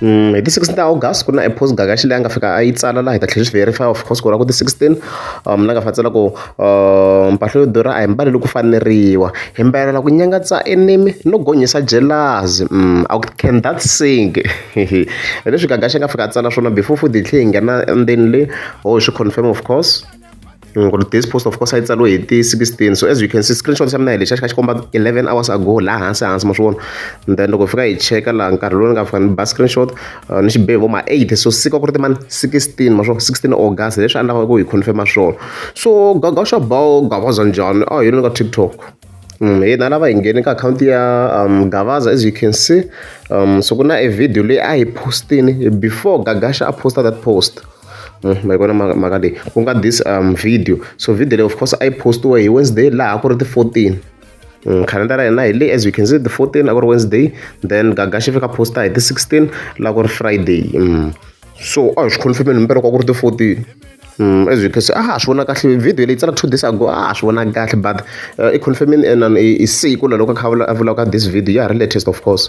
hi ti 16 ta august ku na e post gagaxi leyi a nga fika a yi tsala laha hi ta tlhela swi verify of course ku ra ku ti 16 um la nga fa tsala ku um mpahla yo durha a hi mbali loko faneriwa hi mbalela ku nyangatsa enimi no gonyisa jelazi um a can that sing hi leswi gagaxi a nga fika a tsala swona before futhi hi tlhe hi nghena endzeni le ho hi swi confirm of course Ni ku ri this post of course a yi tsariwe hi ti sixteen so as you can see screenshot xa mina hi lexiya xi kha xi komba eleven hours ago laha hansi hansi ma swi vona and then loko hi fika hi cheka laha nkarhi lowu ni nga fika ni ba screenshot uh, ni xi be hi vo ma eight so siku a ku ri timani sixteen ma swo sixteen august leswi a ni lavaka ku hi confirma swona so gagasha bow gavaza njhani a ah, hi yini ka tiktok Mm, hi na lava hi nghene ka akhawunti ya um, gavaza as you can see um, so ku na e video leyi a hi postini before gagasha a posta that post Hmm, ma yi vona mhaka leyi ku nga this um video so video leyi of course a yi postiwe hi wednesday laha ku ri ti-fourteen hmm, calendar ya hina hi le as you can see the 14 a ku ri wednesday then gaga xi fika posta hi ti-16 laha ku ri friday hmm. so a hi swi confirmeni hi mbereko a ku ri ti-14 Mm, as you can see a ha swi vona kahle video leyi tsala two days ago a ha swi vona kahle but uh, i confirmini enan i siku laloko kha a vulaka this video ya ha ri latest of course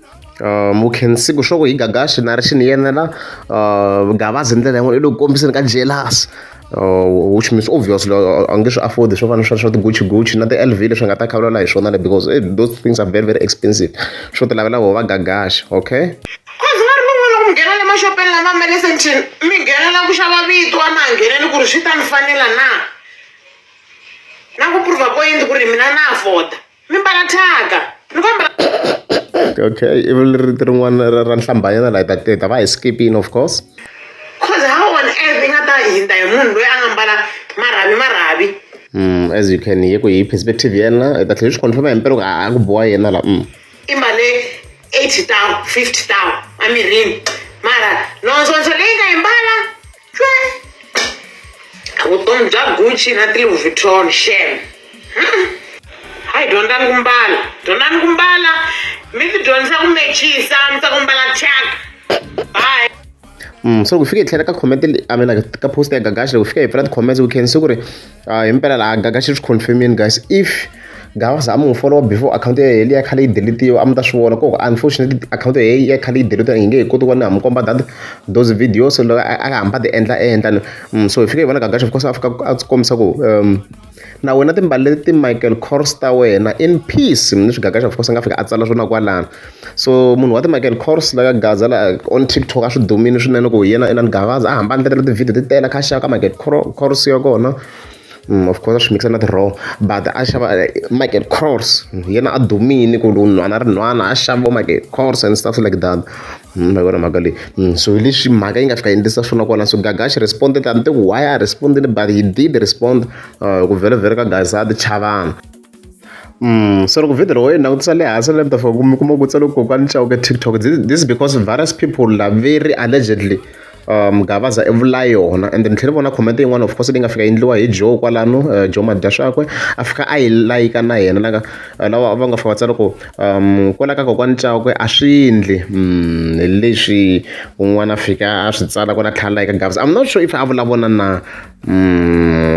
Uh, mukhensiku swo ku hi gagaxi na ri xi ni yenela uh, gavazi hi ndlela yin'wana i lo kombiseni ka jelasi uh, which means obviously uh, a nge swi afford swo fana swa swa tigucci gucci na ti-l v leswi nga ta khavulala hi swona le because eh, those things are very very expensive swo ti lavela vona va gagaxi okay cause va ri mi n'wana ku nghena le maxopeni lama ma le sentini mi nghenela ku xava vito a ma ha ngheneli ku ri swi ta ni fanela na na ku prova point ku ri mina na afforda mi mbala thyaka mi va mbala okay ivi rito rin'wana ra ra nhlambanyana la hi ta hi ta va hi skipini of course cause how on earth i nga ta hindza hi munhu loyi a nga mbala marhavi marhavi mm, as you can hear ku hi perspective yena hi ta tlhela hi swi confirma hi mpela ku a a ku boha yena la mm. i mbale 80 tawu 50 tawu emirini mara nonzonzo leyi nga yi mbala vutomi bya gucci na tilouis vuitton shem hayi dyondzani ku mbala dyondzani ku mbala mi ti dyondzisa ku mechisa mi ta ku mbala chaka bye Mm, so kufika itlhela ka comment a mina ka post ya gagashi loko fika hi pfula ti-comments ku khensi ku ri Ah, himpela la gaga xi swi confirmini guys if gava za mu follow before account ya yena ya khale yi deletiwa a mi ta swi vona koko unfortunately account ya yena ya khale yi deletiwa yi nge he koti ku va ni ha mi komba that those videos loko a a hamba ti endla endla ni Mm, so hi fike hi vona gaga xi because a fika a ti kombisa ku um na wena timbali leti ti michael kors ta wena in peace leswi gaga xi because a nga fika a tsala swona kwalano so munhu wa ti-Michael Kors la ka Gaza la on TikTok a swi dumile swinene ku hi yena Elan Gavaza a hamba a endlekela ti-video ti tele a kha a xava ka Michael Kors ya kona Mm, of course a swi mikisa na ti-raw but a xava eh, michael cross mm, yena a dumile ku ri nhwana ri nhwana a xava michael cross and stuff like that mm, ma vona mhaka leyi so hi leswi mhaka yi nga fika endlisa swona kona so gaga xi responded a ni te ku why a respondile but he did respond uh, ku vhele vhele ka gazadi chavana Mm, so loko video loko yi langutisa le hansi le mi ta fika mi kuma ku tsale kokwani nxavo ka tiktok this is because various people laveri allegedly um gavaza i vula yona and ni tlhele vona comment yin'wana of course leyi nga fika endliwa hi joe kwalano uh, joe madya swakwe a fika a yi layika na yena laka uh, lawa va nga fika va tsala ku um kwala ka kokwani cakwe a swi ndli mm, hi leswi un'wana a fika a swi tsala kwala tlhela layika gavaza i'm not sure if a vulavona na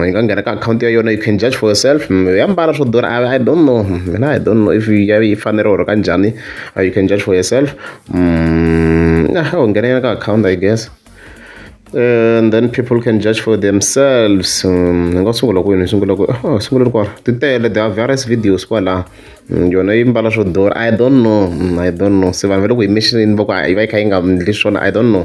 yi nga nghena ka akhawunti ya yona you can judge for yourself ya mbala swo durha I, i don't know mina i don't know if ya yi fanele or ka njhani uh, you can judge for yourself mm, nah, u nghena ka akhawunti i guess and then people can judge for themselves mm, ni nga sungula kwini ni sungula ku oh, sungula ri kwala ti tele there are various videos kwala mm, yona yi mbala swo durha i don't know i don't know se vanhu va le ku yi missionini va ku yi va yi kha yi nga ndli swona i don't know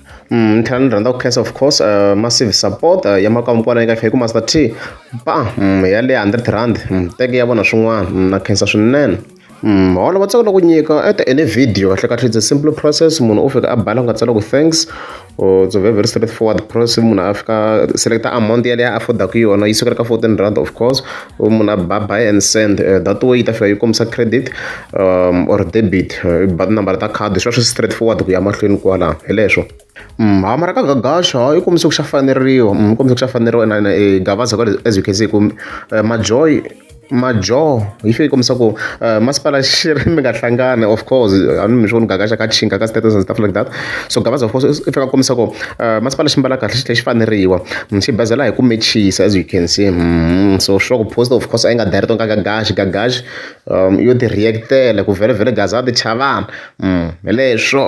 Ni tlhela ni rhandza ku khensa of course massive support ya makwavo kwala eka Faker Master T ba ya le hundred rand teki ya vona swin'wana na khensa swinene mholo va tsaka loko nyika at the any video kahle kahle it's a simple process munhu u fika a bala ku nga tsala ku thanks or it's a very very straight forward process munhu a fika select amount yaleyo a afford-aka yona yi sukela ka fourteen rand of course. munhu a ba buy and send uh, that way yi ta fika yi kombisa credit um, or debit uh, ba tinambara ta khadi swi va swi straight forward ku ya mahlweni kwala hi leswo mm, ha mara ka gagaxa yi kombise ku xa faneriwa mm, yi kombise ku xa faneriwa na e gavaza kwale as you can see ku uh, majoy majoho yi fike yi kombisa ku masipala xi ri mi nga hlangani of course a ni mi swi voni gagaxa ka chinga ka status and stuff like that so Gavaza of course i fanele a kombisa ku masipala xi mbala kahle xi tlhe xi faneriwa xi basela hi ku mechisa as you can see so sure ku post of course a yi nga direct ka Gagash Gagash yo ti react-ela ku vhelavhela Gaza a ti chava hi leswo.